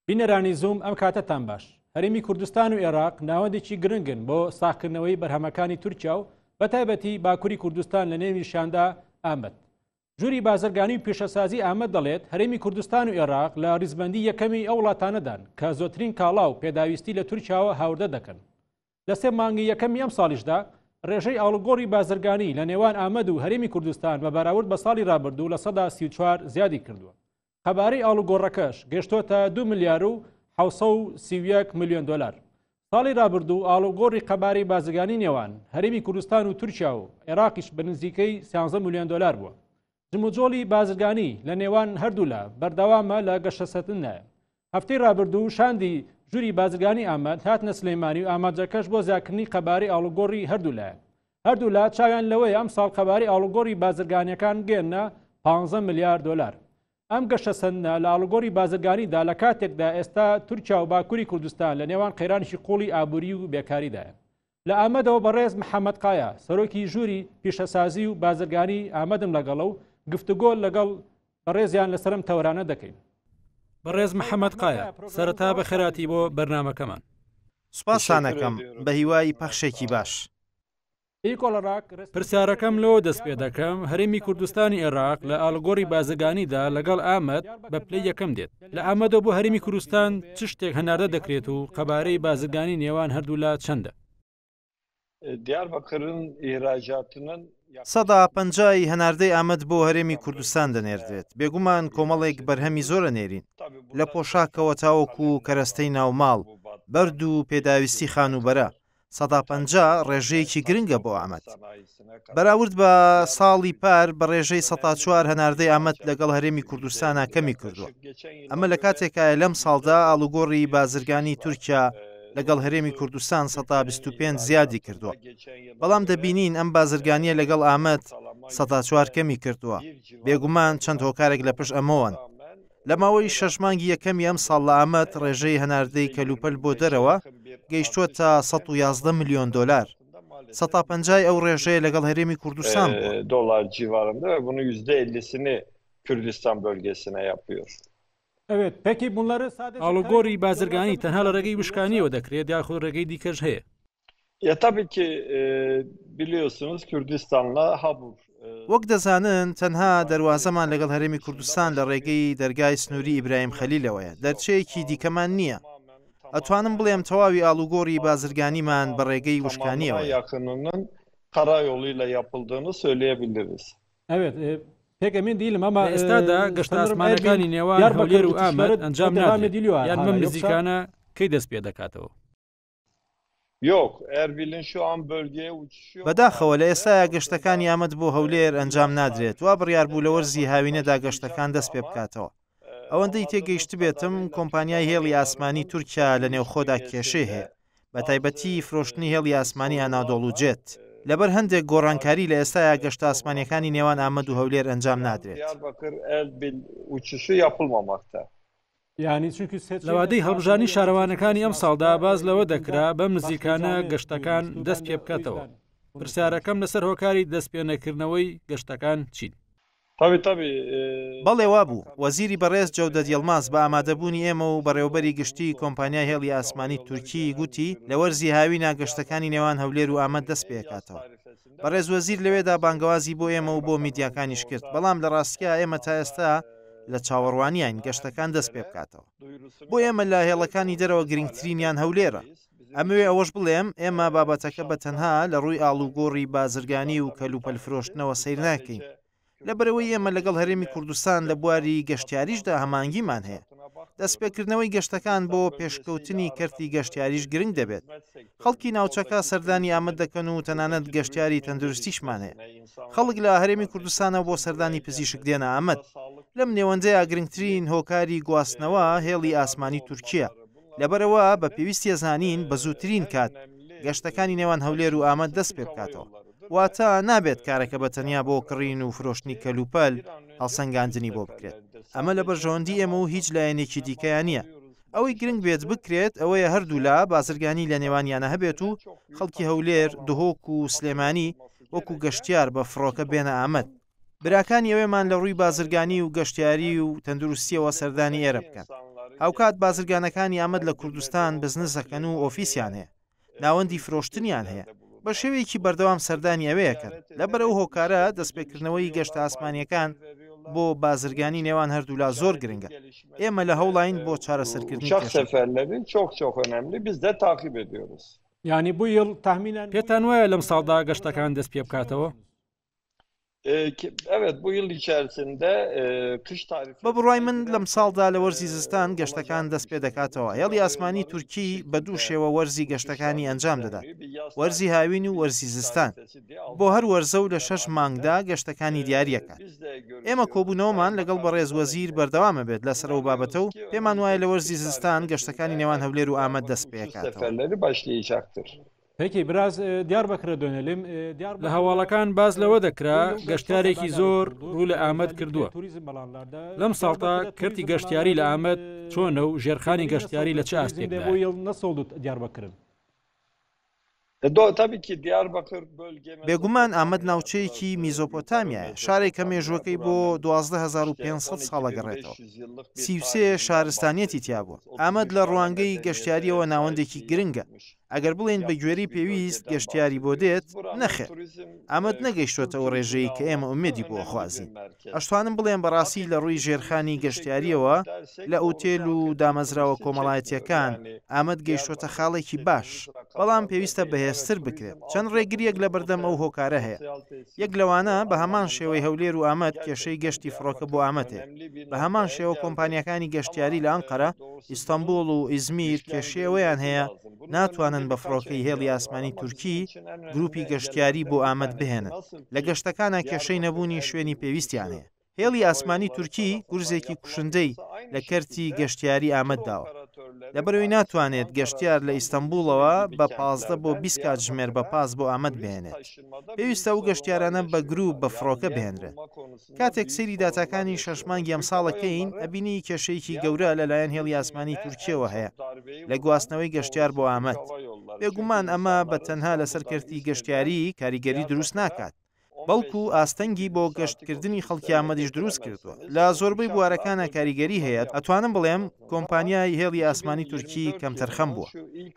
بینەرانی زووم ئەم کاتەتان باش هەرمی کوردستان و عێراق ناوەندێکی گرنگن بۆ ساخکردنەوەی بەرهەمەکانی تورکیا و بە تایبەتی باکووری کوردستان لە نێوی شاندا ئامد جوری بازرگانی و پیشەسازی ئامە دەڵێت هەرێمی کوردستان و عێراق لە ریزبندی یەکەمی ئەو وڵاتانەدان کە زۆترین کاڵا و پێداویستی لە تورکیاوە هاوردە دەکەن لە سێ مانگی یەکەمی ئەم ساڵیشدا ڕێژەی ئاڵوگۆڕی بازرگانی لە نێوان ئامەد و هەرێمی کوردستان بە بەراورد بە ساڵی رابردوو لە سەدا سی چوار زیادی کردووە قەبارەی ئاڵوگۆڕەکەش گەشتۆتە دو ملیار و حوسە و سیویەک میلیۆن دلار ساڵی رابردوو ئاڵوگۆڕی قەبارەی بازرگانی نێوان هەرێمی کوردستان و تورکیا و عێراقیش بە نزیکەی سیانزە میلیۆن دلار بووە جموجۆڵی بازرگانی لە نێوان هەردوولا بەردەوامە لە گەشەسەتنە هەفتەی رابردوو شاندی ژووری بازرگانی ئاماد هاتنە سلەیمانی و ئاماجەکەش بۆ زیاکردنی قەباری ئاڵوگۆڕی هەردوولایەن هەردوولا چاویان لەوەیە ئەم ساڵ قەباری ئاڵوگۆڕی بازرگانیەکان گەێنە 15 ملیار دلار ئەم گەشە سندە لە ئاڵگۆری بازرگانیدا لە کاتێکدا ئێستا تورکیا و باکووری کوردستان لە نێوان قەیرانشی قوڵی ئابووری و بێکاریدایە لە ئامەدەوە بەڕێز محەممەد قایا سەرۆکی ژووری پیشەسازی و بازرگانی ئامەدم لەگەڵە و گفتوگۆ لەگەڵ بەڕێزیان لەسرم تەورانە دەکەین بەڕێز محەممەد قایا سەرەتا بە خەراتی بۆ بەرنمەکەمان سوپاسانەکەم بە هیوای پەخشێکی باش. پرسیارەکەم لەوە دەست پێ دەکەم هەرێمی کوردستانی عێراق لە ئالگۆری بازگانیدا لەگەڵ ئامەد بە پلەی یەکەم دێت لە ئامەدەوە بۆ هەرێمی کوردستان چ شتێک هەناردە دەکرێت و قەبارەی بازرگانی نێوان هەردوولا چەندە؟ دیاربەکرن ئێراجاتنن سەدا پەنجایی هەناردەی ئامەد بۆ هەرێمی کوردستان دەنێردرێت بێگومان کۆمەڵێک بەرهەمی زۆرە نێرین لە پۆشاکەوە تاوەکو کەرەستەی ناوماڵ بەرد و پێداویستی خانوبەرە سەدا پەنجا ڕێژەیەکی گرنگە بۆ ئامەد. بەراورد بە ساڵی پار بە ڕێژەی سەدا چوار هەناردەی ئامەد لەگەڵ هەرێمی کوردستانا کەمی کردووە. ئەمە لە کاتێکایە لەم ساڵدا ئاڵوگۆڕی بازرگانی تورکیا لەگەڵ هەرێمی کوردستان سەدا بیست و پێنج زیادی کردووە. بەڵام دەبینین ئەم بازرگانییە لەگەڵ ئامەد سەدا چوار کەمی کردووە. بێگومان چەند هۆکارێک لە پشت ئەمەوەن. لە ماوەی شەش مانگی یەکەمی ئەمساڵ لە ئامەد ڕێژەی هەناردەی کەلوپەل بۆ دەرەوە گەیشتووەتە 111 ملیۆن دۆلار، سەتا پەنجای ئەو ڕێژەیە لەگەڵ هەرێمی کوردستان بووە. دۆلار جیڤارەندە بونو یوزدە ئللیسینی کوردستان بەلگەیسینە یاپیۆر. ئاڵوگۆڕی بازرگانی تەنها لە ڕێگەی وشکانییەوە دەکرێت یاخود ڕێگەی دیکەش هەیە؟ وەک دەزانن تەنها دەروازەمان لەگەڵ هەرێمی کوردستان لە ڕێگەی دەرگای سنووری ئیبراهیم خەلیلەوەیە، دەرچەیەکی دیکەمان نییە. ئەتوانم بڵێم تەواوی ئاڵوگۆڕی بازرگانیمان بە ڕێگەی وشکانییەوەیە. لە ئێستادا گەشتەئاسمانییەکانی نێوان هەولێر و ئامەد ئەنجام نادرێت، یان بەم نزیکانە کەی دەست پێدەکاتەوە؟ بەداخەوە لە ئێستایا گەشتەکانی ئامەد بۆ هەولێر ئەنجام نادرێت وا بڕیار بوو لە وەرزی هاوینەدا گەشتەکان دەست پێ بکاتەوە ئەوەندەی تێگەیشتبێتم کۆمپانیای هێڵی ئاسمانی تورکیا لە نێوخۆدا کێشەی هەیە بە تایبەتی فرۆشتنی هێڵی ئاسمانی ئەنادۆڵ و جێت لەبەر هەندێک گۆڕانکاری لە ئێستایا گەشت ئاسمانەکانی نێوان ئامەد و هەولێر ئەنجام نادرێت. لە وادەی هەڵبژاردنی شارەوانەکانی ئەمساڵدا باس لەوە دەکرا بەم نزیکانە گەشتەکان دەست پێ بکاتەوە پرسیارەکەم لەسەر هۆکاری دەست پێ نەکردنەوەی گەشتەکان چین؟ بەڵێ وابوو، وەزیری بەڕێز جەودەت یڵماز بە ئامادەبوونی ئێمە و بەڕێوەبەری گشتیی کۆمپانیای هێڵی ئاسمانی تورکیی گوتی، لە وەرزی هاوینا گەشتەکانی نێوان هەولێر و ئامەد دەست پێ ئەکاتەوە. بەڕێز وەزیر لەوێدا بانگەوازی بۆ ئێمە و بۆ میدیاکانیش کرد، بەڵام لە ڕاستیا ئێمە تا ئێستا لە چاوەڕوانیین گەشتەکان دەست پێ بکاتەوە. بۆ ئێمە لە هێڵەکانی دەرەوە گرنگترینیان هەولێرە. ئەمەوێ ئەوەش بڵێم، ئێمە بابەتەکە بە تەنها لە ڕووی ئاڵوگۆڕی بازرگانی و کەلوپەلفرۆشتنەوە سەیر ناکەین، لەبەرئەوەی ئێمە لەگەڵ هەرێمی کوردستان لە بواری گەشتیاریشدا هەمانگیمان هەیە دەستپێکردنەوەی گەشتەکان بۆ پێشکەوتنی کەرتی گەشتیاریش گرنگ دەبێت خەڵکی ناوچەکە سەردانی ئامەد دەکەن و تەنانەت گەشتیاری تەندروستیشمان هەیە خەڵک لە هەرێمی کوردستانە بۆ سەردانی پزیشک دێنە ئامەد لەم نێوەندەیە گرنگترین هۆکاری گواستنەوە هێڵی ئاسمانی تورکیە لەبەرەوە بە پێویستیە زانین بە زووترین کات گەشتەکانی نێوان هەولێر و ئامەد دەست پێ بکاتەوە واتە نابێت کارەکە بە تەنیا بۆ کڕین و فرۆشتنی کەلوپەل هەڵسەنگاندنی بۆ بکرێت ئەمە لە بەرژەوەندی ئێمە و هیچ لایەنێکی دیکەیان نییە ئەوەی گرنگ بێت بکرێت ئەوەیە هەردوولا بازرگانی لە نێوانیانە هەبێت و خەڵکی هەولێر دهۆک و سلێمانی وەکو گەشتیار بە فڕۆکە بێنە ئامد براکانی ئەوێمان لە ڕووی بازرگانی و گەشتیاری و تەندروستیەوە سەردانی ئێرە بکەن هاوکات بازرگانەکانی ئامد لە کوردستان بزنسەکەن و ئۆفیسیان هەیە ناوەندی فرۆشتنیان هەیە بە شێوەیەکی بەردەوام سەردانی ئەوەیەکەن لە بەرەو هۆکارە دەستپێکردنەوەی گەشتە ئاسمانیەکان بۆ بازرگانی نێوان هەردوولا زۆر گرنگە ئێمە لە هەوڵین بۆ چارەسەرکردنی ینی بویڵ تامینان پێتان وایە لەم ساڵدا گەشتەکان دەست پێ بکاتەوە؟ بە بڕای من لەم ساڵدا لە وەرزی زستان گەشتەکان دەست پێ دەکاتەوە هێڵی ئاسمانی تورکی بە دوو شێوە وەرزی گەشتەکانی ئەنجام دەدات وەرزی هاوین و وەرزی زستان بۆ هەر وەرزە و لە شەش مانگدا گەشتەکانی دیارەکان ئێمە کۆبوونەوەمان لەگەڵ بەڕێز وەزیر بەردەوامە بێت لەسەر و بابەتە و پێمان وایە لە وەرزی زستان گەشتەکانی نێوان هەولێر و ئامەد دەست پێکاتەوە باش لێ یاختر. پێکی براز دیار بەکرە دۆنێلیم لە هەواڵەکان باز لەوە دەکرا گەشتارێکی زۆر ڕوو لە ئامەد کردووە لەم ساڵتا کەرتی گەشتیاری لە ئامەد چۆنە و ژێرخانی گەشتیاری لە چ ئاستێک نەسەڵدت دیار بەکرن بێگومان ئامەد ناوچەیەکی میزۆپۆتامیە شارێکە مێژوەکەی بۆ 12500 ساڵە گەڕێتەوە سیوسێ شارستانیەتی تیابووە ئامەد لە ڕوانگەی گەشتیاریەوە ناوەندێکی گرنگە ئەگەر بڵێین بە گوێرەی پێویست گەشتیاری بۆ دێت نەخێر ئامەد نەگەیشتوێتە ئەو ڕێژەیە کە ئێمە ئومێدی بۆ خوازین ئەشتوانم بڵێن بەڕاستی لە ڕووی ژێرخانی گەشتیاریەوە لە ئوتێل و دامەزراوە کۆمەڵایەتەکان ئامەد گەیشتوتە خاڵێکی باش بەڵام پێویستە بەهێزتر بکرێت چەند ڕێگریەک لە بەردەم ئەو هۆکارە هەیە یەک لەوانە بە هەمان شێوەی هەولێر و ئامەد کێشەی گەشتی فڕۆکە بۆ ئامەتێ بە هەمان شێوە کۆمپانیەکانی گەشتیاری لە ئەنقەرە ئیستەنبوڵ و ئیزمیر کێشەی ئەوەیان هەیە ناتوانن بە فڕۆکەی هێڵی ئاسمانی تورکی گروپی گەشتیاری بۆ ئامەد بهێنن لە گەشتەکانە کێشەی نەبوونی شوێنی پێویستیان هەیە هێڵی ئاسمانی تورکی گورزێکی کوشندەی لە کەرتی گەشتیاری ئامەد داوە لەبەرەوەی ناتوانێت گەشتیار لە ئیستەنبوڵەوە بە پازدە بۆ بیست کات ژمێر بە پاس بۆ ئامەد بێنێت پێویستە و گەشتیارانە بە گروپ بە فڕۆکە بێنرێت کاتێک سەیری داتاکانی شەش مانگی ئەمساڵە کەین ئەبینی کێشەیەکی گەورە لە لایەن هێڵی ئاسمانی تورکیەوە هەیە لە گواستنەوەی گەشتیار بۆ ئامەد بێگومان ئەمە بە تەنها لەسەر کەرتی گەشتیاری کاریگەری دروست ناکات بەڵکو ئاستەنگی بۆ گەشتکردنی خەڵکی ئامەدیش دروست کردووە لە زۆربەی بوارەکانە کاریگەری هەیە ئەتوانم بڵێم کۆمپانیای هێڵی ئاسمانی تورکی کەمتەرخەم بووە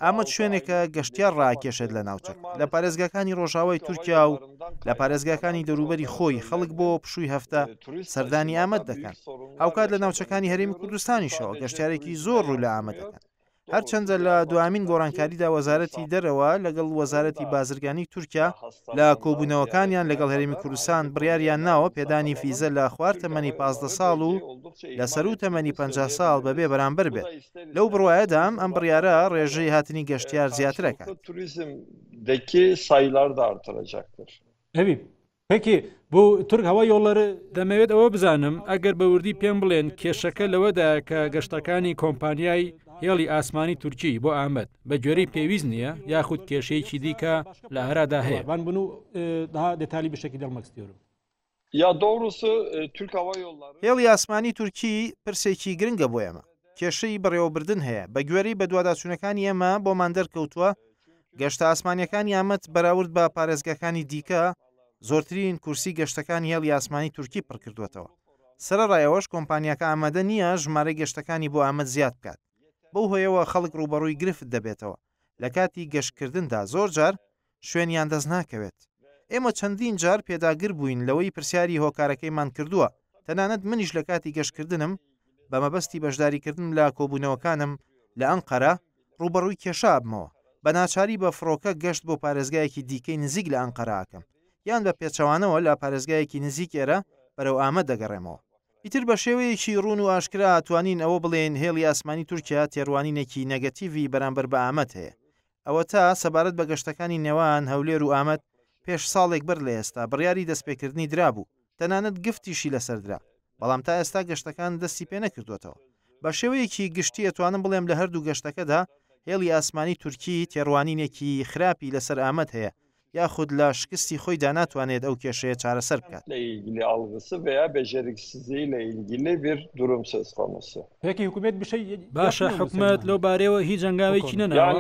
ئامەد شوێنێکە گەشتیار ڕاکێشێت لە ناوچەک لە پارێزگاکانی ڕۆژاوای تورکیا و لە پارێزگاکانی دەروبەری خۆی خەڵک بۆ پشووی هەفتە سەردانی ئامەد دەکەن هاوکات لە ناوچەکانی هەرێمی کوردستانیشەوە گەشتارێکی زۆر ڕوو لە ئامە دەکەن هەرچەندە لە دوامین گۆڕانکاریدا وەزارەتی دەرەوە لەگەڵ وەزارەتی بازرگانی تورکیا لە کۆبوونەوەکانیان لەگەڵ هەرێمی کوردستان بڕیاریان ناوە پێدانی فیزە لە خوار تەمەنی پازدە ساڵ و لە سەروو تەمەنی پەنجا ساڵ بەبێ بەرامبەر بێت، لەو بڕوایەدام ئەم بڕیارە ڕێژەی هاتنی گەشتیار زیاتر ئەکات. دەمەوێت ئەوە بزانم، ئەگەر بە وردی پێم بڵێن کێشەکە لەوەدایە کە گەشتەکانی کۆمپانیای هێڵی ئاسمانی تورکی بۆ ئامەد بە گوێرەی پێویست نییە یاخود کێشەیەکی دیکە لە ئارادا هەیە؟ هێڵی ئاسمانی تورکی پرسێکی گرنگە بۆ ئێمە. کێشەی بەڕێوەبردن هەیە، بەگوێرەی بەدواداچوونەکانی ئێمە بۆمان دەرکەوتووە گەشتە ئاسمانییەکانی ئامەد بەراورد بە پارێزگاکانی دیکە زۆرترین کورسی گەشتەکانی هێڵی ئاسمانی تورکی پڕکردووەتەوە. سەرەڕای ئەوەش کۆمپانیاکە ئامادە نییە ژمارەی گەشتەکانی بۆ ئامەد زیاد بکات، بەو هۆیەوە خەڵک ڕووبەڕووی گرفت دەبێتەوە. لە کاتی گەشتکردندا زۆر جار شوێنیان دەست ناکەوێت. ئێمە چەندین جار پێداگر بووین لەوەی پرسیاری هۆکارەکەیمان کردووە، تەنانەت منیش لە کاتی گەشتکردنم بە مەبەستی بەشداریکردن لە کۆبوونەوەکانم لە ئەنقەرە ڕووبەڕووی کێشە ئەبمەوە، بە ناچاری بە فڕۆکە گەشت بۆ پارێزگایەکی دیکەی نزیک لە ئەنقەرە ئەکەم یان بە پێچەوانەوە لە پارێزگایەکی نزیک ئێرە بەرەو ئامەد دەگەڕێمەوە. ئیتر بە شێوەیەکی ڕوون و ئاشکرا توانین ئەوە بڵێین هێڵی ئاسمانی تورکیا تێڕوانینێکی نێگەتیڤی بەرامبەر بە ئامەد هەیە. ئەوەتا سەبارەت بە گەشتەکانی نێوان هەولێر و ئامەد، پێش ساڵێک بەر لە ئێستا بڕیاری دەستپێکردنی درابوو، تەنانەت گفتیشی لەسەر درا، بەڵام تا ئێستا گەشتەکان دەستی پێ نەکردووەتەوە. بە شێوەیەکی گشتی ئەتوانم بڵێم لە هەردوو گەشتەکەدا هێڵی ئاسمانی تورکی تێڕوانینێکی خراپی لەسەر ئامەد هەیە یاخود لە شکستی خۆیدا ناتوانێت ئەو کێشەیە چارەسەر بکات. باشە حکومەت لەو بارەیەوە هیچ هەنگاوێکی نەناوە؟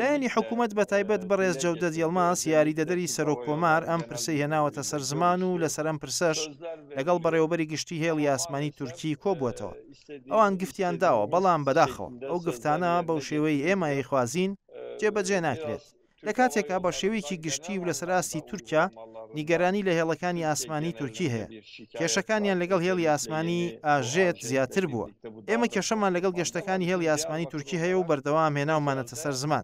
لایەنی حکومەت بە تایبەت بەڕێز جەودەت یڵماز یاریدەدەری سەرۆک کۆمار ئەم پرسەی هێناوەتە سەر زمان و لەسەر ئەم پرسەش لەگەڵ بەڕێوەبەری گشتی هێڵی ئاسمانی تورکی کۆبووەتەوە. ئەوان گفتیان داوە بەڵام بەداخەوە ئەو گفتانە بەو شێوەی ئێمە یخوازین جێبەجێ ناکرێت لە کاتێکا بە شێوەیەکی گشتی و لەسەر ئاستی تورکیا نیگەرانی لە هێڵەکانی ئاسمانی تورکی هەیە کێشەکانیان لەگەڵ هێڵی ئاسمانی ئاژێت زیاتر بووە ئێمە کێشەمان لەگەڵ گەشتەکانی هێڵی ئاسمانی تورکی هەیە و بەردەوام هێناومانەتە سەر زمان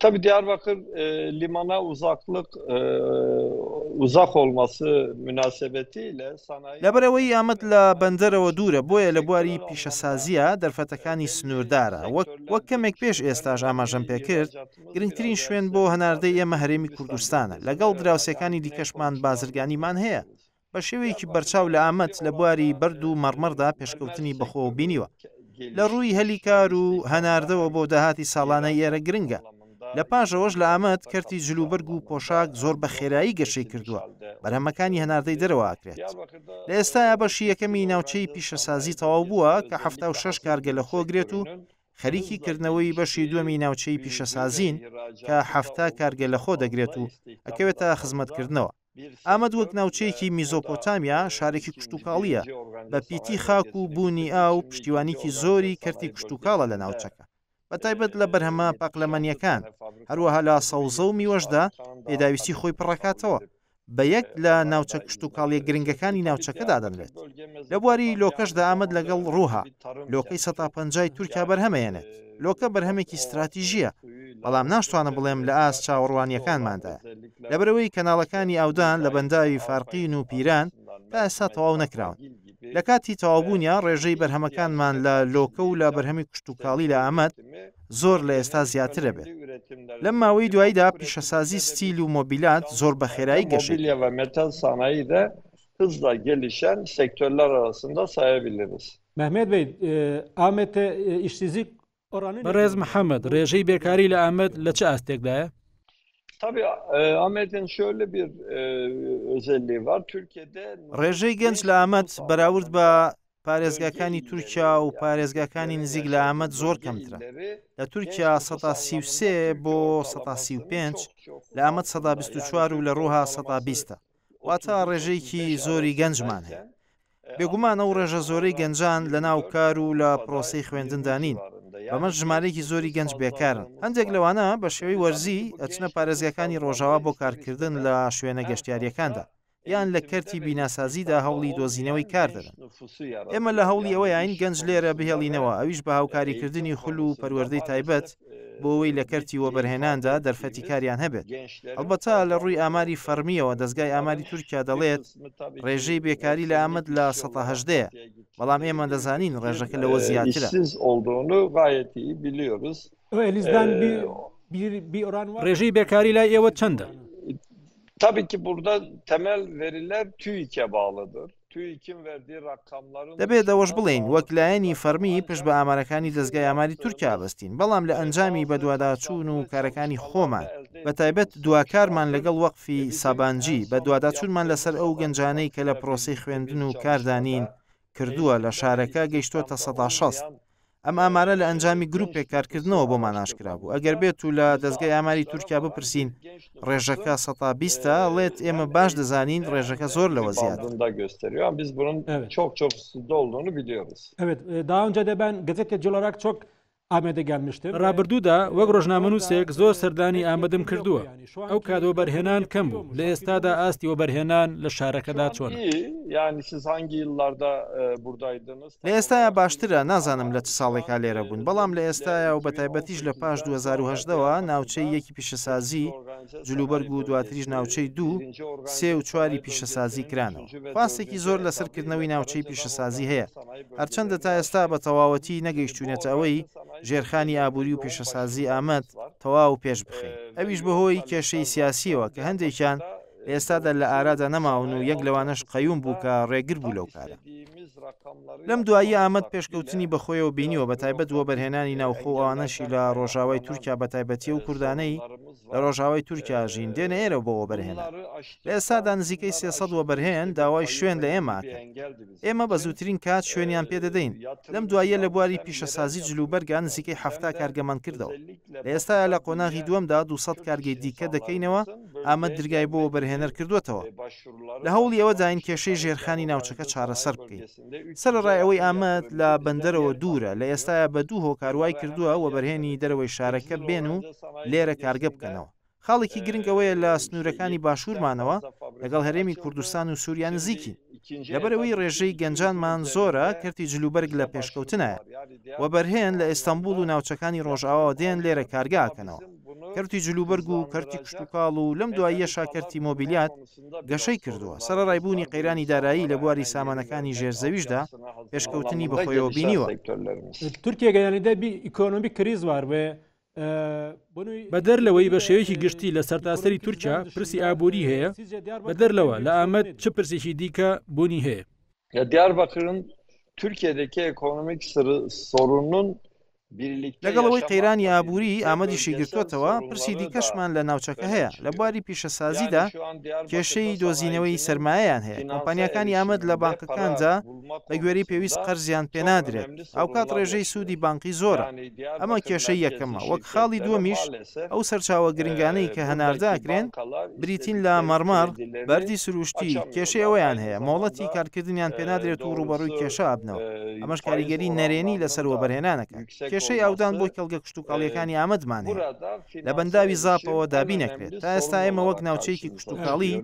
Tabii Diyarbakır e, limana uzaklık e, uzak olması münasebetiyle sanayi لەبەرەوەی ئامەد لە بەندەرەوە دوورە بۆیە لە بواری پیشەسازیە دەرفەتەکانی سنووردارە وەک وەک کەمێک پێش ئێستاش ئاماژەم پێکرد گرنگترین شوێن بۆ هەناردەی ئێمە هەرێمی کوردستانە لەگەڵ دراوسەکانی دیکەشمان بازرگانیمان هەیە بە شێوەیەکی بەرچاو لە ئامەد لە بواری بەرد و مەڕمەڕدا پێشکەوتنی بەخۆ بینیوە لە ڕووی هەلی کار و هەناردەوە بۆ داهاتی ساڵانە ئێرە گرنگە لە پاشەوەش لە ئامەد کەرتی جلوبەرگ و پۆشاک زۆر بە خێرایی گەشەی کردووە بەرهەمەکانی هەناردەی دەرەوەکرێت لە ئێستایا بەشی یەکەمی ناوچەی پیشەسازی تەواو بووە کە ه شش کارگە لە خۆگرێت و خەریکی کردنەوەی بەشی دووەمی ناوچەی پیشەسازین کە ه کارگە لە خۆ دەگرێت و ئەکەوێتە خزمەتکردنەوە ئامەد وەک ناوچەیەکی میزۆپۆتامیا شارێکی کشتوکاڵییە، بە پیتی خاک و بوونی ئاو پشتیوانیکی زۆری کەرتی کشتوکاڵە لە ناوچەکە، بە تایبەت لە بەرهەمە پاقلەمەنییەکان، هەروەها لە سەوزە و میوەشدا پێداویستی خۆی پڕدەکاتەوە، بە یەک لە ناوچە کشتوکاڵییە گرنگەکانی ناوچەکە دادەنرێت، لە بواری لۆکەشدا ئامەد لەگەڵ رووها، لۆکەی سەتا پەنجای تورکیا بەرهەمەیەنێت. لۆکە بەرهەمێکی ستراتیژییە، بەڵام ناشتوانم بڵێم لە ئاست چاوەڕوانییەکانماندایە. لەبەرئەوەی کەناڵەکانی ئاودان لە بەنداوی فارقین و پیران تا ئێستا تەواو نەکراون. لە کاتی تەواوبوونیا ڕێژەی بەرهەمەکانمان لە لۆکە و لە بەرهەمی کشتوکاڵی لە ئامەد زۆر لە ئێستا زیاتر دەبێت. لەم ماوەی دواییدا پیشەسازی ستیل و مۆبیلات زۆر بە خێرایی گەشەی کرد. مەهمێت بەی ئامێت ئیشسیزی بەڕێز محەممەد ڕێژەی بێکاری لە ئامەد لە چ ئاستێکدایە؟ ڕێژەی گەنج لە ئامەد بەراورد بە پارێزگاکانی تورکیا و پارێزگاکانی نزیک لە ئامەد زۆر کەمترە لە تورکیا 1970 بۆ 1970 لە ئامەد 1920 و لە ڕووها 1920 واتە ڕێژەیەکی زۆری گەنجمان هەیە. بێگومان ئەو ڕێژە زۆرەی گەنجان لەناو کار و لە پرۆسەی خوێندندا نین، بەمەش ژمارەیەکی زۆری گەنج بێکارن. هەندێک لەوانە بە شێوەی وەرزی ئەچنە پارێزگاکانی ڕۆژاوا بۆ کارکردن لە شوێنە گەشتیارییەکاندا، یان لە کەرتی بیناسازیدا هەوڵی دۆزینەوەی کار دەدەن. ئێمە لە هەوڵی ئەوەیاین گەنج لێرە بهێڵینەوە، ئەویش بە هاوکاریکردنی خول و پەروەردەی تایبەت. بۆوەی لە کەرتی وەبەرهێناندا دەرفەتی کاریان هەبێت ئەڵبەتا لە ڕووی ئاماری فەرمیەوە دەستگای ئاماری تورکیا دەڵێت ڕێژەی بێکاری لە ئامد لە 1970 بەڵام ئێمە دەزانین ڕێژەکە لەوە زیاترە ڕێژەی بێکاری لای ئێوە چەندە؟ تابێکی بوردە تەمەل ڤێریلەر تویکە باڵەدەر دەبێت ئەوەش بڵێین وەک لایەنی فەرمی پشت بە ئامارەکانی دەستگای ئاماری تورکیا بەستین بەڵام لە ئەنجامی بەدواداچوون و کارەکانی خۆمان بە تایبەت دواکارمان لەگەڵ وەقفی سابانجی بە دواداچوونمان لەسەر ئەو گەنجانەی کە لە پرۆسی خوێندن و کاردانین کردووە لە شارەکە گەیشتۆتە سەدا شەست ئەم ئامارە لە ئەنجامی گروپێک کارکردنەوە بۆمان ئاشکرا بوو ئەگەر بێت و لە دەستگای ئاماری تورکیا بپرسین ڕێژەکە سەتا بیستە ڵێت ئێمە باش دەزانین ڕێژەکە زۆر لەوە زیاد داونجا دەبان گەزێتە جلراک چۆک ئامادەگان مشتن ڕابردوودا وەک ڕۆژنامەنووسێک زۆر سەردانی ئامادەم کردووە ئەو کادۆ بەرهێنان کەم بوو لە ئێستادا ئاستی وەبەرهێنان لە شارەکەدا چۆن ینی سزانگی لاردا بوردایدنس لە ئێستایا باشترە، نازانم لە چ ساڵێکا لێرە بوون، بەڵام لە ئێستایا و بەتایبەتیش لە پاش دوو هەزار و هەژدە وە ناوچەی یەکی پیشەسازی، جلوبەرگ و دواتریش ناوچەی دوو، سێ و چواری پیشەسازی کرانەوە. خواستێکی زۆر لەسەر کردنەوەی ناوچەی پیشەسازی هەیە، هەرچەندە تا ئێستا بە تەواوەتی نەگەیشتووینەتە ئەوەی ژێرخانی ئابووری و پیشەسازی ئامەد تەواو پێش بخەین، ئەویش بەهۆی کێشەی سیاسییەوە کە هەندێکیان ئێستادا لە ئارادا نەماون و یەک لەوانەش قەیوم بوو کە ڕێگر بوو لەو کارە لەم دوایی ئامەد پێشکەوتنی بەخۆیەوە بینیوە بە تایبەت وە بەرهێنانی ناوخۆ ئەوانەشی لە ڕۆژاوای تورکیا بە تایبەتی و کوردانەی لە ڕۆژاوای تورکیا ژین دێنە ئێرە بەوە بەرهێنا لە ئێستادا نزیکەی سێسەد وە بەرهێن داوای شوێن لە ئێمە ئێمە بە زووترین کات شوێنیان پێ دەدەین، لەم دواییە لە بواری پیشەسازی جلوبەرگا نزیکەی حەفتا کارگە مان کردەوە، لە ئێستایا لە قۆناغی دووەمدا دوو سەد کارگەی دیکە دەکەینەوە، ئامەد درگای بۆ وەبەرهێنەر کردووەتەوە. لە هەوڵی ئەوەداین کێشەی ژێرخانی ناوچەکە چارەسەر بکەین. سەرەڕای ئەوەی ئامەد لە بەندەرەوە دوورە، لە ئێستایا بە دوو هۆکار وای کردووە وەبەرهێنی دەرەوەی شارەکە بێن و لێرە کارگە بکەنەوە، خاڵێکی گرنگ ئەوەیە لە سنوورەکانی باشوورمانەوە لەگەڵ هەرێمی کوردستان و سووریا نزیکین لەبەرەوەی ڕێژەی گەنجانمان زۆرە کەرتی جلوبەرگ لە پێشکەوتنایە و بەرهێن لە ئێستانبول و ناوچەکانی ڕۆژئاوا دێن لێرە کارگاکەنەوە کەرتی جلوبەرگ و کەرتی کشتتوکاڵ و لەم دواییە شاکەرتی مۆبیلیات گەشەی کردووە سەر ڕایبوونی قەیرانی دارایی لە بواری سامانەکانی ژێرزەویشدا پێشکەوتنی بەخۆیەوە بینیوە تورکیە گەیانیدە بی ئیکۆنۆمی کریزوار بێ بەدەر لەوەی بە شێوەیەکی گشتی لە سەرتاسەری تورکیا پرسی ئابووری هەیە بەدەر لەوە لە ئامەد چ پرسێکی دیکە بوونی هەیە لە دیار بەکرم تورکیا دەکێ ئەکۆنمیک سۆرونون لەگەڵەوەی قەیرانی ئابووری ئامەدیشی گرتوتەوە پرسی دیکەشمان لە ناوچەکە هەیە لە بواری پیشەسازیدا کێشەی دۆزینەوەی سرمایەیان هەیە کۆمپانیەکانی ئامەد لە بانکەکاندا بەگوێرەی پێویست قەرزیان پێ نادرێت، هاوکات ڕێژەی سوودی بانقی زۆرە، ئەمە کێشەی یەکەمە، وەک خاڵی دووەمیش ئەو سەرچاوە گرنگانەی کە هەناردە ئەکرێن بریتین لە، مەڕمەڕ، بەردی سروشتی، کێشەی ئەوەیان هەیە مۆڵەتی کارکردنیان پێ نادرێت و ڕووبەڕووی کێشە ئەبنەوە، ئەمەش کاریگەری نەرێنی لەسەر وەبەرهێنان ئەکات، کێشەی ئاودان بۆ کێڵگە کشتوکاڵییەکانی ئامەدمان هەیە لە بەنداوی زاپەوە دابین ئەکرێت، تا ئێستا ئێمە وەک ناوچەیەکی کشتوکاڵی،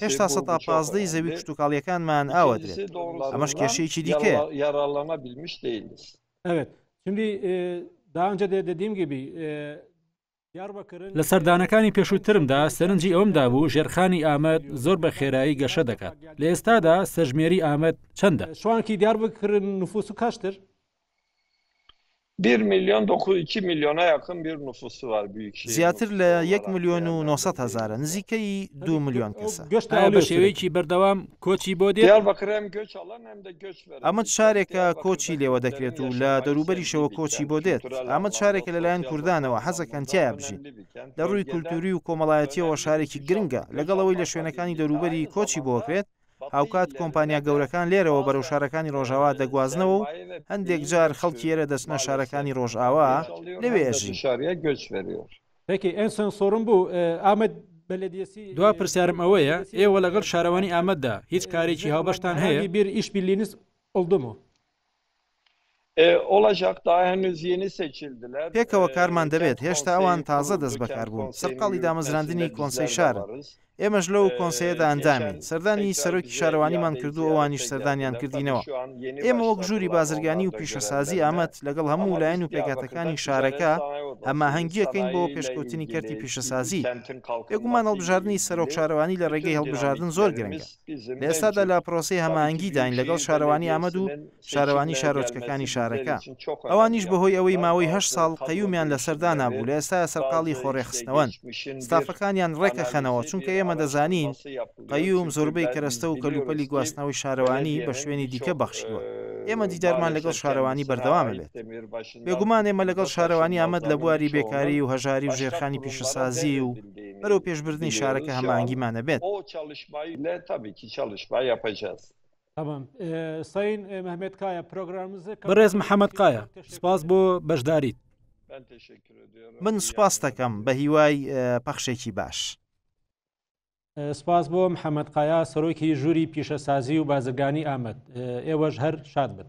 هێشتا سەدا پازدەی زەوی کشتوکاڵییەکانمان ئاوەدرێت، ئەمەش کێشەیەکی دیکەیە. لە سەردانەکانی پێشووترمدا سەرنجی ئەوەم دابوو ژێرخانی ئامەد زۆر بە خێرایی گەشە دەکات، لە ئێستادا سەژمێری ئامەد چەندە؟ زیاتر لە یەک ملیۆن و نۆ سەد هەزارە، نزیکەی دوو ملیۆن کەسە. ئایا بە شێوەیەکی بەردەوام کۆچی بۆ دێت؟ ئامەد شارێکە کۆچی لێوە دەکرێت و لە دەوروبەریشەوە کۆچی بۆ دێت. ئامەد شارێکە لەلایەن کوردانەوە حەزەکەن تیایا بژین. لە رووی کولتووری و کۆمەڵایەتییەوە شارێکی گرنگە، لەگەڵ ئەوەی لە شوێنەکانی دەوروبەری کۆچی بۆکرێت، هاوکات کۆمپانیا گەورەکان لێرەوە بەرەو شارەکانی ڕۆژاوا دەگوازنەوە و هەندێک جار خەڵکی ئێرە دەچنە شارەکانی ڕۆژاوا لەوێ ئەژین. دوا پرسیارم ئەوەیە ئێوە لەگەڵ شارەوانی ئامەددا هیچ کارێکی هاوبەشتان هەیە؟ پێکەوە کارمان دەبێت، هێشتا ئەوان تازە دەستبەکار بوون، سەرقاڵی دامەزراندنی کۆنسەی شارن، ئێمەش لەو کۆنسەیەدا ئەندامین، سەردانی سەرۆکی شارەوانیمان کردو ئەوانیش سەردانیان کردینەوە، ئێمە وەک ژووری بازرگانی و پیشەسازی ئامەد لەگەڵ هەموو لایەن و پێکهاتەکانی شارەکە هەماهەنگییەکەین بۆ پێشکەوتنی کەرتی پیشەسازی، بێگومان هەڵبژاردنی سەرۆک شارەوانی لە ڕێگەی هەڵبژاردن زۆر گرنگە. لە ئێستادا لە پرۆسەی هەماهەنگیداین لەگەڵ شارەوانی ئامەد و شارەوانی شارۆچکەکانی شارەکە، ئەوانیش بەهۆی ئەوەی ماوەی هەشت ساڵ قەیومیان لەسەر دانابوو لە ئێستایا سەرقاڵی خۆڕێکخستنەوەن ستافەکانیان ڕێکەخەنەوە، چونکە ئێمە دەزانین قەیوم زۆربەی کەرەستە و کەلوپەلی گواستنەوەی شارەوانی بە شوێنی دیکە بەخشیوە، ئێمە دیدارمان لەگەڵ شارەوانی بەردەوامەبێت. بێگومان ئێمە لەگەڵ شارەوانی ئامەد لە بواری بێکاری و هەژاری و ژێرخانی پیشەسازی و بەرەو پێشبردننی شارەکە هەمانگیمانە بێت. بەڕێز محەممەد قایە سپاس بۆ بەشداریت. من سوپاس دەکەم بە هیوای پەخشێکی باش. سپاس بۆ محەممەد قایا سەرۆکی ژووری پیشەسازی و بازرگانی ئامەد ئێوەش هەر شاد بن.